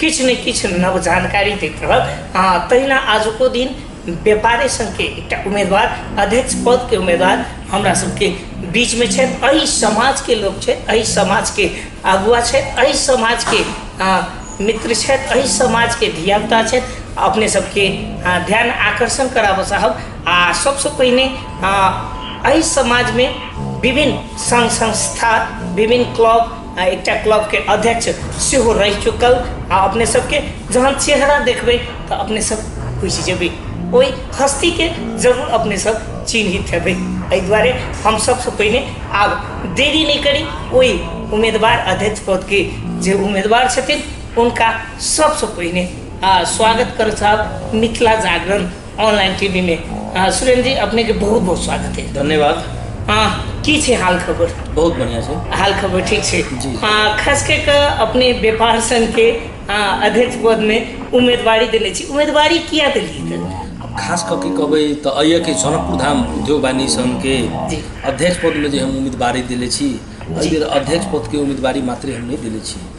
किछु ने किछु नव जानकारी दैत रहल हँ तहिना आजुको दिन व्यापारी संघके एकटा उम्मीदवार अध्यक्ष पदके उम्मीदवार हमरा सबके बीचमे छथि एहि समाजके लोक छथि एहि समाजके अगुआ छथि एहि समाजके मित्र छथि एहि समाजके धियापुता छथि अपने सबके ध्यान आकर्षण कराबऽ चाहब आ सबसँ पहिने एहि समाजमे विभिन्न संघ संस्था विभिन्न क्लब आ एकटा क्लबके अध्यक्ष सेहो रहि चुकल आ अपने सबके जहन चेहरा देखबै तऽ अपने सब बुझि जेबै ओहि हस्तीके जरूर अपने सब चिन्हित हेबै एहि दुआरे हम सबसँ पहिने आब देरी नहि करी ओहि उम्मीदवार अध्यक्ष पदके जे उम्मीदवार छथिन हुनका सबसँ पहिने आ स्वागत करऽ चाहब मिथिला जागरण ऑनलाइन टीवी में हाँ सुरेंद्र जी अपने के बहुत बहुत स्वागत है धन्यवाद हाँ की छै हाल खबर बहुत बढ़िया छै हाल खबर ठीक छै जी हाँ खास कऽ कऽ अपने व्यापार संघ के हाँ, अध्यक्ष पद में उम्मीदवारी देने छी उम्मीदवारी किया देलियै खास कऽ के कहबै तऽ अइए के जनकपुर धाम उद्योग वाणिज्य संघ के जी। अध्यक्ष पद में जे हम उम्मीदवारी देले छी एहि बेर अध्यक्ष पद के उम्मीदवारी मात्र हम नहि देले छी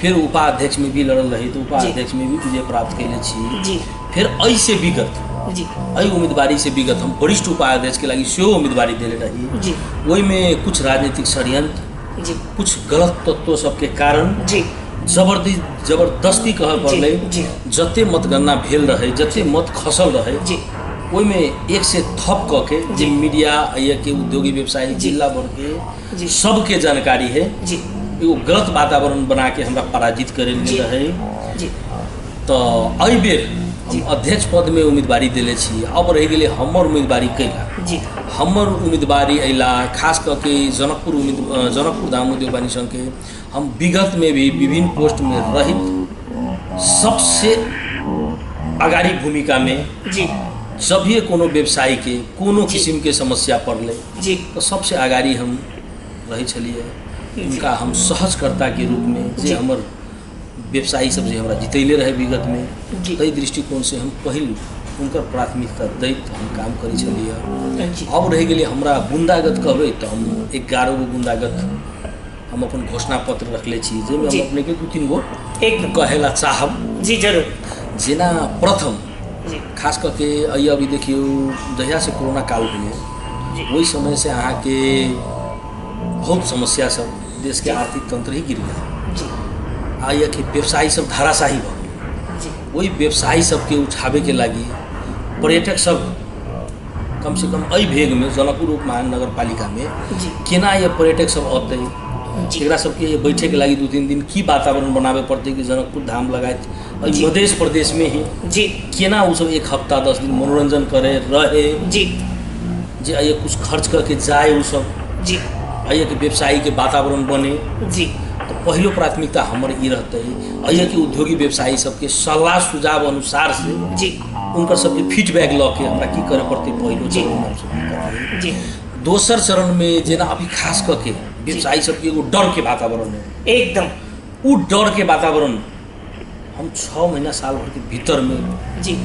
फिर उपाध्यक्ष में भी लड़ल रही तो उपाध्यक्ष में भी विजय प्राप्त कैले छी जी फिर एहि से विगत जी एहि उम्मीदवारी से विगत हम वरिष्ठ उपाध्यक्ष के लागी सेहो उम्मीदवारी देले रही जी ओहिमे कुछ राजनीतिक षड्यंत्र जी कुछ गलत तत्व सबके कारण जी जबरदी जबरदस्ती कहऽ जी, पड़लै जी। जते मतगणना भेल रहै जते मत खसल रहै जी ओहिमे एक से थप कऽ के जे मीडिया या के उद्योगी व्यवसायी जिला भर के जी। सबके जानकारी है जी एगो गलत वातावरण बना के हमरा पराजित करे जी। में रहे जी तो एहि बेर हम अध्यक्ष पद में उम्मीदवारी देले छी अब रह गेले हमर उम्मीदवारी कैला जी हमर उम्मीदवारी अयला खास कऽ के जनकपुर उम्मीद अ, जनकपुर धाम उद्योग वाणी संघ के हम विगत में भी विभिन्न पोस्ट में रहित सबसे अगाड़ी भूमिका में जी जब भी कोनो व्यवसायी के कोनो किसिम के समस्या पड़ले जे सबसे अगाड़ी हम रहै छलियै हुनका हम सहजकर्ता के रूप में जे हमर व्यवसायी सब जे हमरा जितैले रहे विगत में जी। ताहि दृष्टिकोण से हम पहिल हुनकर प्राथमिकता दैत हम काम करै छलियै जी अब रहि गेलै हमरा गुंडागत कहबै तऽ हम एगारह गो गुंडागत हम अपन घोषणा पत्र रखले छी जाहिमे हम अपने के दू तीन गो एकदम कहे ला चाहब जी जरूर जेना प्रथम जी खास करके अइ अभी देखियौ जहिया से कोरोना काल भेलै जी। ओहि समय से अहाँके बहुत समस्या सब देश के आर्थिक तंत्र ही गिर गेल जी आ यह कि व्यवसायी सब धाराशाही भऽ गेल जी ओहि व्यवसायी सबके उठाबैके लागि पर्यटक सब कमसँ कम एहि भेगमे जनकपुर उपमहानगर पालिकामे केना यऽ पर्यटक सब अतै एकरा सबके बैठेके लागि दू तीन दिन की वातावरण बनाबे पड़तै कि जनकपुर धाम लगायत एहि मधेश प्रदेशमे ही जी केना ओ सब एक हफ्ता दस दिन मनोरञ्जन करे रहे जी जे आइए कुछ खर्च करके जाए ओ सब जी आइएके व्यवसायीके वातावरण बने जी तऽ पहिलो प्राथमिकता हमर ई रहतै आइएके उद्योगी व्यवसायी सबके सलाह सुझाव अनुसार से जी उनकर सबके फीडबैक लऽ के हमरा की करऽ पड़तै पहिलो जी। चरणमे हमसब की करबै जी दोसर चरणमे जेना अभी खास कऽ के व्यवसायी सबके एगो डरके वातावरण रहै एकदम ओ डरके वातावरण हम छः महीना साल भरके भीतरमे जी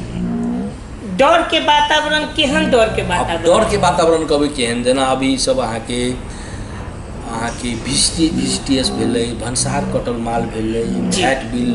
डर के वातावरण केहन डर के आब वातावरण डरके वातावरण कहबै केहन जेना अभी सब अहाँके अहाँके भिस्टी भिस्टियस भेलै भनसार कटल माल भेलै जी। फैट बिल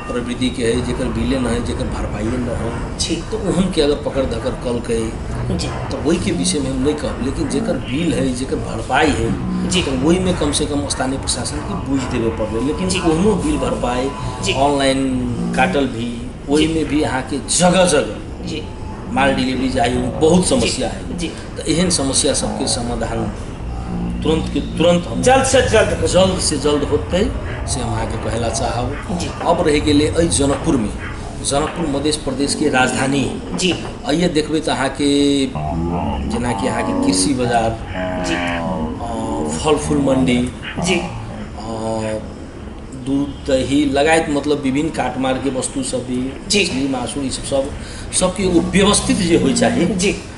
प्रवृतिके हइ जकर बिले नहि हइ जकर भरपाइए नहि हइ ठीक तऽ ओहनके अगर पकड़ धकड़ कलकै जी तऽ ओहिके विषयमे हम नहि कहब लेकिन जकर बिल हइ जकर भरपाइ हइ जी तऽ ओहिमे कमसँ कम स्थानीय प्रशासनके बुझि देबे पड़लै लेकिन जी कोनो बिल भरपाइ जी ऑनलाइन काटल भी ओहिमे भी अहाँके जगह जगह जी माल डिलीवरी जाइमे बहुत समस्या हइ जी तऽ एहन समस्या सबके समाधान तुरन्तके तुरन्त हम जल्दसँ जल्द होतै। जल्दसँ जल्द होतै से हम अहाँके कहै लए चाहब जी। अब रहि गेलै एहि जनकपुरमे जनकपुर मध्य प्रदेशके राजधानी है जी आइए देखबै तऽ अहाँके जेनाकि अहाँके कृषि बाजार जी अ, फल फूल मंडी जी अ, दूध दही लगायत मतलब विभिन्न काटमारके वस्तु सब भी जी। मछली मासु ई सब सब सबके एगो व्यवस्थित जे होइ चाही जी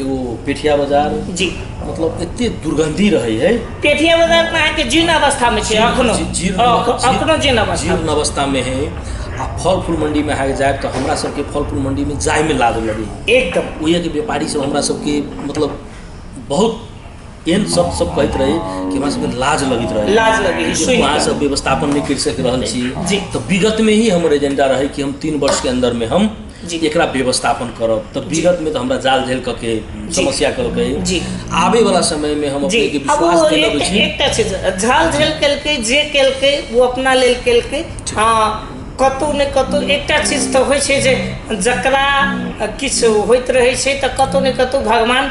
एगो पेठिया बाजार जी मतलब एते दुर्गंधी रहे है पेठिया बाजार में अहाँके जीर्ण अवस्था में छै अखनो जी- जीर्ण- अख- जी- अखनो जीर्ण अवस्था जीर्ण अवस्था में है आ फल फूल मंडी में अहाँके जायब तऽ हमरा सबके फल फूल मंडी में जाय में लाज लगे एकदम ओहिके व्यापारी सब हमरा सबके मतलब बहुत एहन सब सब कहैत रही कि हमरा सबके लाज लगैत रहे लाज लगे कि सुनि वहाँ कऽ। सब व्यवस्थापन नहीं कर सक रहल छी जी। तो विगत में ही हमर एजेंडा रहे कि हम तीन वर्ष के अंदर में हम जी। एकरा व्यवस्थापन करब तो विगत में तो हमरा जाल झेल क के समस्या कल के जी। आवे वाला समय में हम जी अपने के अब विश्वास वो दिलाबै एक- छी एकटा चीज झाल झेल केलकै जे केलकै ओ अपना लेल केलकै हँ कतहु ने कतहु एकटा चीज तऽ होइ छै जे जकरा किछु होइत रहै छै तऽ कतहु ने कतहु भगवान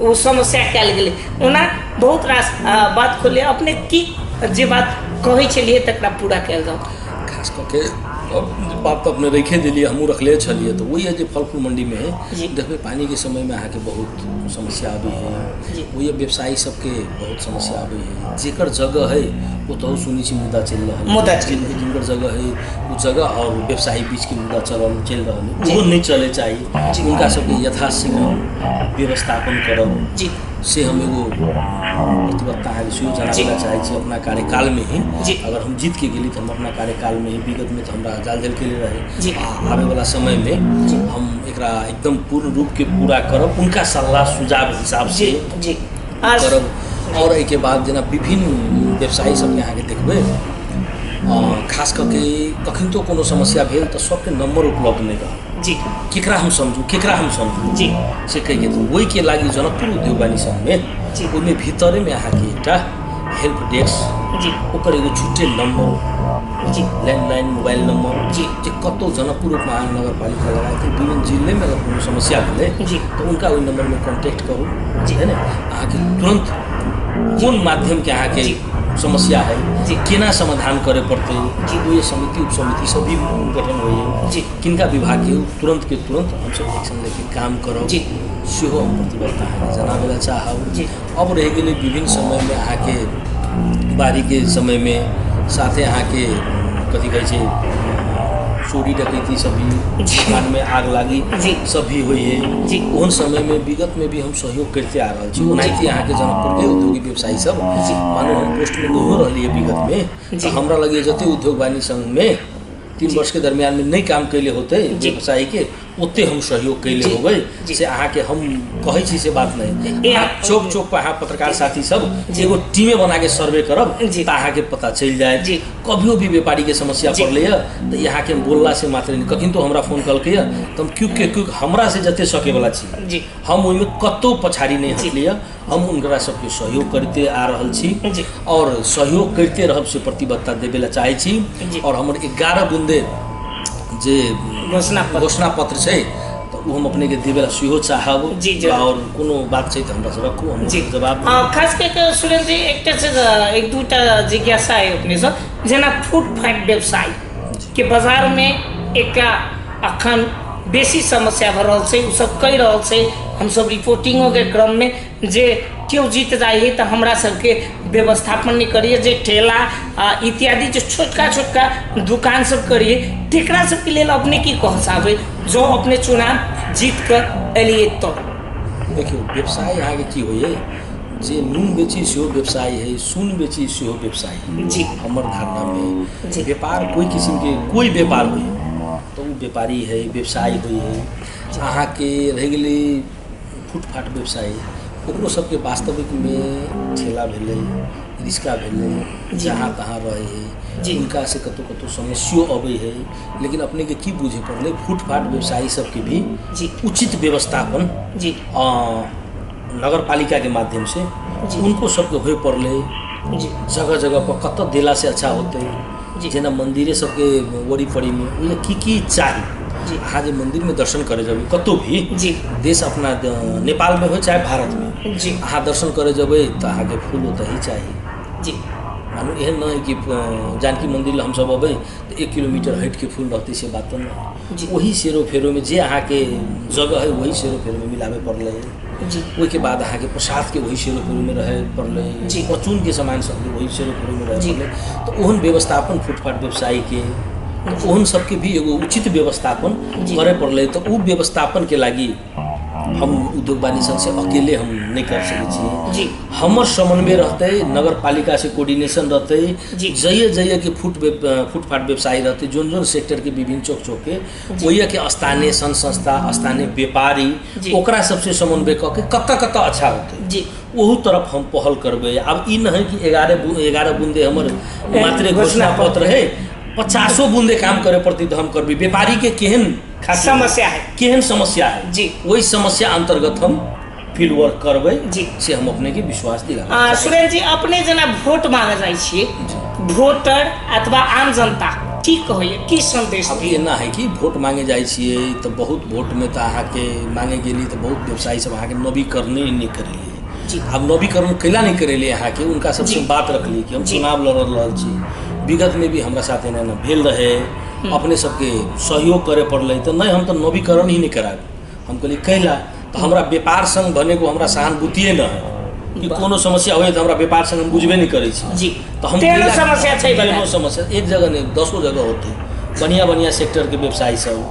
ओ समस्या कयल गेलै ओना बहुत रास बात खोललियै अपने की जे बात कहै छलियै तकरा पूरा कयल जाउ खास कऽ के बात तऽ अपने रखे दिलियै हमहूँ रखले छलियै तऽ वही है जे फल फूल मंडीमे है देखबै पानिके समयमे अहाँके बहुत समस्या अबै है वही व्यवसायी सबके बहुत समस्या आबै है जेकर जगह है ओ तो सुनै छी मुद्दा चलि रहल है। मुद्दा चलि जिनकर जिनकर जगह है ओ जगह और व्यवसायी बीच के मुद्दा चलल चलि रहल है जी। ओहो नहि चले चाही जी। हुनका सबके यथाशीघ्र व्यवस्थापन करब जी से हम एगो प्रतिबद्धता है सेहो जी। जनाबैला चाहै छी अपना कार्यकाल में ही जी। अगर हम जीत के गेली तऽ हम अपना कार्यकाल में ही विगत में तऽ हमरा जाल जल के लिए जी। रहे आ आबे वाला समय में जी। हम एकरा एकदम पूर्ण रूप के पूरा करब उनका सलाह सुझाव हिसाब जी से जी करब आओर एहिके बाद जेना विभिन्न व्यवसायी सभके अहाँके देखबै खास कऽ के कखनतो कोनो समस्या भेल तऽ सभके नम्बर उपलब्ध नहि रहल जी केकरा हम समझू केकरा हम समझू जी से कहिके तऽ ओहिके लागि जनकपुर उद्योग वाणी सङ्घमे जी ओहिमे भीतरेमे अहाँके एकटा हेल्प डेस्क जी ओकर एगो छुट्टे नम्बर उचित ल्यान्डलाइन मोबाइल नम्बर जे जे कतौ जनकपुर महानगरपालिका लगायत विभिन्न जिल्लेमे अगर कोनो समस्या भेलै जी तऽ हुनका ओहि नम्बरमे कॉन्टेक्ट करू जी है ने अहाँके तुरन्त कोन माध्यमके अहाँके समस्या है जी केना समाधान करे पड़तै जी ओहि समिति उपसमिति सब भी गठन होइए जी किनका विभागके तुरन्तके तुरन्त हमसब एक्शन लेके काम करब जी सेहो हम प्रतिबद्धता अहाँके जनाबै लए चाहब जी अब रहि गेलै विभिन्न समयमे अहाँके बाढ़िके समयमे साथे अहाँके कथी कहै छै चोरी डकैती सब भी दुकानमे आग लागी जी। सब भी होइए जी। ओहन समयमे विगतमे भी हम सहयोग करिते आ रहल छी ओनाहिते अहाँके जनकपुरके उद्योगी व्यवसायी सब जी। मानू हम पोस्टमे नहियो रहलियै विगतमे जी। तऽ हमरा लगे जते उद्योग वाणी संघमे तीन वर्षके दरमियानमे नहि काम कैले होतै जी। व्यवसायीके ओते हम सहयोग कैले जी, होबै जी। से अहाँके हम कहै छी से बात नहीं ए- अहाँ चौक चौक पर अहाँ पत्रकार साथी सब जी। एगो टीमे बना के सर्वे करब जी। तऽ अहाँके पता चलि जायत जी। कभियो भी व्यापारी के समस्या जी। पड़लै है तऽ यहाँ के बोलला से मात्र नहीं कखन तो हमरा फोन कलकै है तऽ हम क्यूक के क्यूक हमरा से जते सके वाला छी जी। हम ओहिमे कतौ पछाड़ी नहीं जी। हटलियै हम हुनकरा सबके सहयोग करते आ रहल छी जी। और सहयोग करते रहब से प्रतिबद्धता देवे ला चाहे छी जी। और हमर ग्यारह बुंदे जे घोषणा पत्र। घोषणा पत्र छै तऽ ओ हम अपने के देवे ला सेहो चाहब जी, जी। और कोनो बात छै तऽ हमरा से रखू हम जी जवाब देब। अ, खास कऽ कऽ सुरेन्द्र जी एकटा छै जे एक दूटा जिज्ञासा अइ अपनेसँ जेना फूड फाइट व्यवसाय के बाजारमे एकटा अखन बेसी समस्या भऽ रहल छै ओ सभ कहि रहल छै हम सभ रिपोर्टिंगोके क्रममे जे केओ जीत जाइ है तऽ हमरा सभके व्यवस्थापन नहि करैया जे ठेला आ इत्यादि जे छोटका छोटका दुकान सभ करैया तेकरा सभके लेल अपने की कहऽ चाहबै जँ अपने चुनाव जीत कऽ एलियै तऽ देखियौ व्यवसाय अहाँके की होइया जे नून बेची सेहो व्यवसाय है सुन बेची सेहो व्यवसाय है जी हमर धारणामे जी व्यापार कोइ किसिमके कोइ व्यापार होइ तऽ ओ व्यापारी हइ व्यवसाय होइ हइ अहाँके रहि गेलै फुटपाथ व्यवसाय ओकरो सभके वास्तविकमे ठेला भेलै रिक्शा भेलै जहाँ तहाँ रहै हइ जी हुनका से कतहुँ कतहुँ समस्यो अबै हइ लेकिन अपनेके की बुझै पड़लै फुटपाथ व्यवसायी सभके भी जी उचित व्यवस्थापन जी अऽ, नगर पालिका के माध्यम से जी। उनको सबके होय पड़ले जी जगह जगह पर कत दिला से अच्छा होते जी। जेना मंदिरे सबके वरी पड़ी में उनमें की की चाही जी। अहाँ जे मंदिर में दर्शन करे जब कतौ भी जी देश अपना द- नेपाल में हो चाहे भारत में जी अहाँ दर्शन करे जबै तऽ अहाँके फूल ओतही चाही जी मानू एहन नहि कि अ, जानकी मंदिर लए हमसब अबै तऽ एक किलोमीटर हटि के फूल रहतै से बात तऽ नहि जी वही सेरो फेरो में जे अहाँ के जगह है वही सेरो फेरो में मिलावे पड़ल है जी वही के बाद अहाँ के प्रसाद के वही सेरो फेरो में रहे पड़ल है जी। परचून के सामान सब के वही सेरो फेरो में रहे जी। पड़ल है तो ओहन व्यवस्थापन फुटपाथ व्यवसायी के ओहन सबके भी एगो उचित व्यवस्थापन जी। करे पड़ल है तो उ व्यवस्थापन के लागी हम उद्योग वाणी संघ से अकेले हम नहीं कर सके छी जी हमर समन्वय रहते नगर पालिका से कोऑर्डिनेशन रहते जी। जइए जइए के फुट व्याप- अ, फुटपाथ व्यवसायी रहते जोन जोन सेक्टर के विभिन्न चौक चौक के ओहिए के स्थानीय संघ संस्था स्थानीय व्यापारी जी। ओकरा सबसे समन्वय कऽ के कतऽ कतऽ अच्छा होते जी ओहू तरफ हम पहल करबै आब ई नहि कि एगारह बू- एगारह बूंदे हमर मात्र घोषणा घोषणा पत्र है पचासो बूंदे काम करे पड़तै तऽ हम करबै व्यापारी के केहन खातिर समस्या है केहन समस्या है जी। वही समस्या अंतर्गत हम फील्ड वर्क करबै जी। से हम अपने के विश्वास दिला आ, सुरेन जी अपने जेना वोट मांगे जाइ छी वोटर अथवा आम जनता की कहैया की संदेश अब ये ना है कि वोट मांगे जाइ छियै तऽ बहुत वोट में तऽ अहाँके मांगे गेली तऽ बहुत व्यवसायी सब अहाँके नवीकरण नहि करेलियै जी। आब नवीकरण कैला नहि करेलियै अहाँके उनका सबसे जी। बात रखली कि हम जी। चुनाव लड़ रहल छी विगत में भी हमरा साथ एना एना भेल रहे अपने सबके सहयोग करे पड़लै तऽ नहि हम तऽ नवीकरण ही नहि कराएब हम कहली कैला तऽ हमरा व्यापार संघ भने को हमरा सहानुभूतिए न है कि वाह। कोनो समस्या होइए तऽ हमरा व्यापार संघ हम बुझबे नहि करै छी जी तऽ हम तेहनो कैला- समस्या छै तेहनो बताएब। समस्या एक जगह नहीं दसो जगह होते बढ़िया बढ़िया सेक्टर के व्यवसायी सब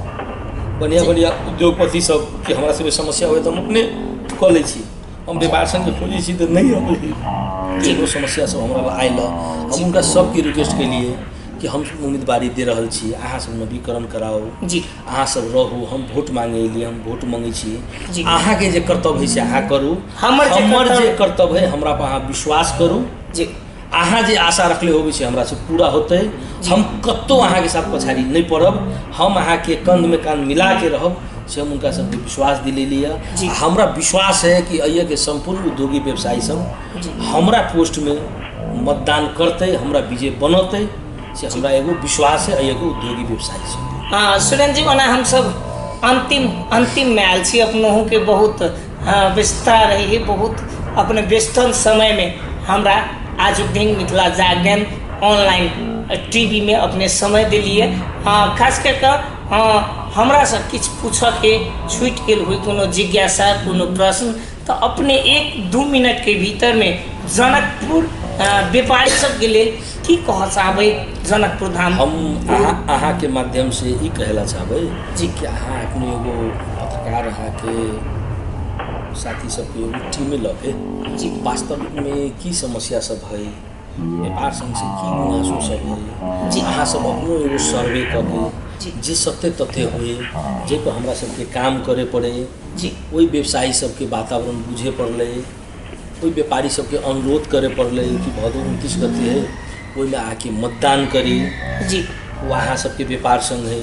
बढ़िया बढ़िया उद्योगपति सब के हमरा सबके समस्या होइए तऽ हम अपने कऽ लै छी हम व्यापार संघ खोजै छी तऽ नहि अबै एगो समस्या सब हमरा लग आयल हँ। हम हुनका सबके रिक्वेस्ट केलिए कि हम उम्मीदवारी दे रहल छी अहाँ सब नवीकरण कराउ जी अहाँ सब रहू हम वोट मांगे एलिए हम वोट मांगे छी जी। अहाँ के जे कर्तव्य है से अहाँ करू हमर जे हमर कर्तव्य- जे कर्तव्य है हमरा पर अहाँ विश्वास करू जी अहाँ जे आशा रखले होबे से हमरा से पूरा होते हम कत्तो अहाँ के साथ पछाड़ी नहीं पड़ब हम अहाँ के कंध में कान मिला के रहब से हम उनका सबके विश्वास दिलेली है जी। आ हमरा विश्वास है कि अइया के संपूर्ण उद्योगी व्यवसायी सब जी। हमरा पोस्ट में मतदान करते हमरा विजय बनते से हमरा एगो विश्वास है एगो उद्योगी व्यवसायी से हाँ सुरेंद्र जी ओना हमसब अंतिम अंतिम में आयल छी अपनोहू के बहुत हाँ, व्यस्तता रही है बहुत अपने व्यस्तन समय में हमरा आज दिन मिथिला जागरण ऑनलाइन टीवी में अपने समय दिलिए हाँ खास कर कऽ हाँ हमरा से किछु पूछऽ के छूटि गेल हुई कोनो जिज्ञासा कोनो प्रश्न तऽ अपने एक दू मिनटके भीतरमे जनकपुर व्यापारी सबके लेल की कहऽ चाहबै जनकपुर धाम हम अहाँके माध्यमसँ ई कहै लए चाहबै जी कि अहाँ अपने एगो पत्रकार अहाँके साथी सबके एगो टीमे लऽके जी वास्तवमे की समस्या सब है ये आसन से की मुआसो सके जे अहाँ सब अपनो एगो सर्वे कऽ दी जे सत्य तथ्य होए जाहिपर हमरा सबके काम करे पड़े जे ओहि व्यवसायी सबके वातावरण बुझे पड़लै ओहि व्यापारी सबके अनुरोध करे पड़लै कि भदौ उनतीस गते है ओहिमे आके मतदान करी जी ओ अहाँ सबके व्यापार संघ है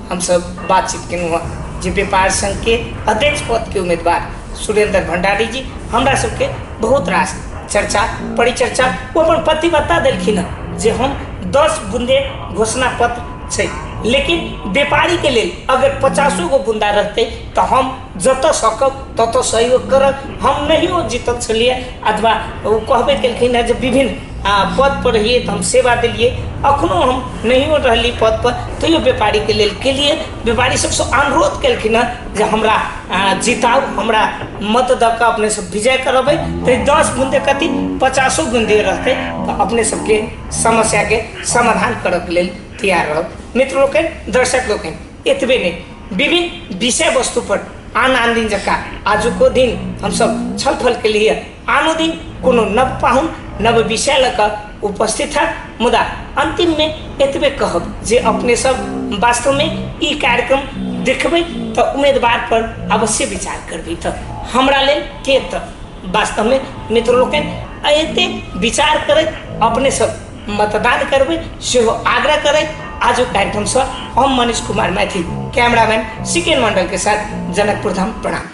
हमसभ बातचीत केलहुँ हँ जे व्यापार संघके अध्यक्ष पदके उम्मीदवार सुरेन्द्र भण्डारी जी हमरा सभके बहुत रास चर्चा परिचर्चा ओ अपन प्रतिबद्धता देलखिन हँ जे हम दस बुन्दे घोषणा पत्र छै लेकिन व्यापारीके लेल अगर पचासो गो बुन्दा रहतै तऽ हम जतऽ सकब ततऽ सहयोग करब हम नहिओ जितल छलिए अथवा ओ कहबे केलखिन हँ जे विभिन्न पदपर रहिए तऽ हम सेवा देलिए एखनहु हम नहिओ रहली पदपर तैओ बेपारीके लेल केलिए बेपारी सबसँ अनुरोध केलखिन हँ जे हमरा जिताउ हमरा मत दऽ कऽ अपनेसब विजय करबै तऽ ई दस बूँदे कथी पचासो बूँदे रहतै तऽ अपने सबके समस्याके समाधान करैके लेल तैआर रहब मित्र लोकनि दर्शक लोकनि एतबे नहि विभिन्न विषय वस्तु पर आन आन दिन जकाँ आजुको दिन हमसब छलफल केलिए आनो दिन कोनो नव पाहुन नव विषय लऽ कऽ उपस्थित होयत मुदा अन्तिममे एतबे कहब जे अपने सब वास्तवमे ई कार्यक्रम देखबै तऽ उम्मीदवार पर अवश्य विचार करबै तऽ हमरा लेल के तऽ वास्तवमे मित्र लोकनि एते विचार करैत अपने सब मतदान करबै सेहो आग्रह करैत आजुक कार्यक्रमसँ हम मनीष कुमार मैथिल कैमरामैन सिकेन मण्डलके साथ जनकपुर धाम प्रणाम